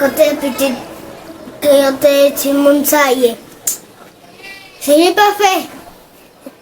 Kote pitit ke yon te eti moun sa ye? Fini pa fe!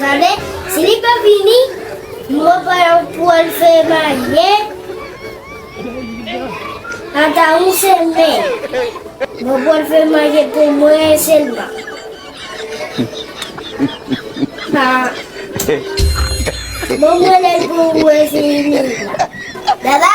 Gade, si li pa vini, mwen pa yon pou al fè marye. Ata yon semen, mwen pou al fè marye pou mwen selman. Pa, mwen mwen lè pou mwen vini. Dada!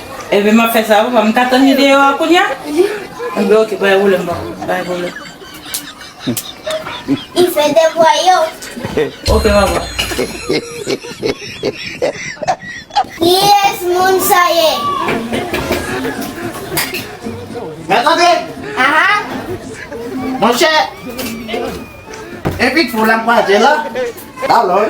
Enben map fè sa papa, m ka tann li deyò a kounya? Enben ok bay volèm papa, bay volèm. Li fè devwa yo. Ok papa. Kiyès moun sa ye? Mèt antre! Aha! Monchè, envit foul la m kwaze la, la lòj.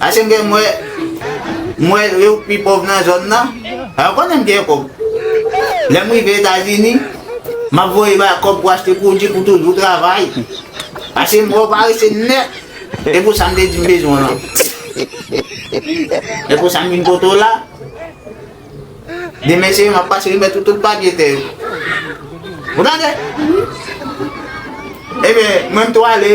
Ase m gen mwen m wè yo k pi pòv nan zòn nan. Yo konnen m gen kòb. Lè m rive Etazini, m ap voye bay kòb pou achte pwodui pou toujou travay. Ase m wè yo parese nèt. E pou sa m te di m bezwen w lan. E pou sa m vin pote w la. Demen se yo m ap pase remèt ou tout papye tè yo. Ou tande? Ebyen, mwen m tou ale.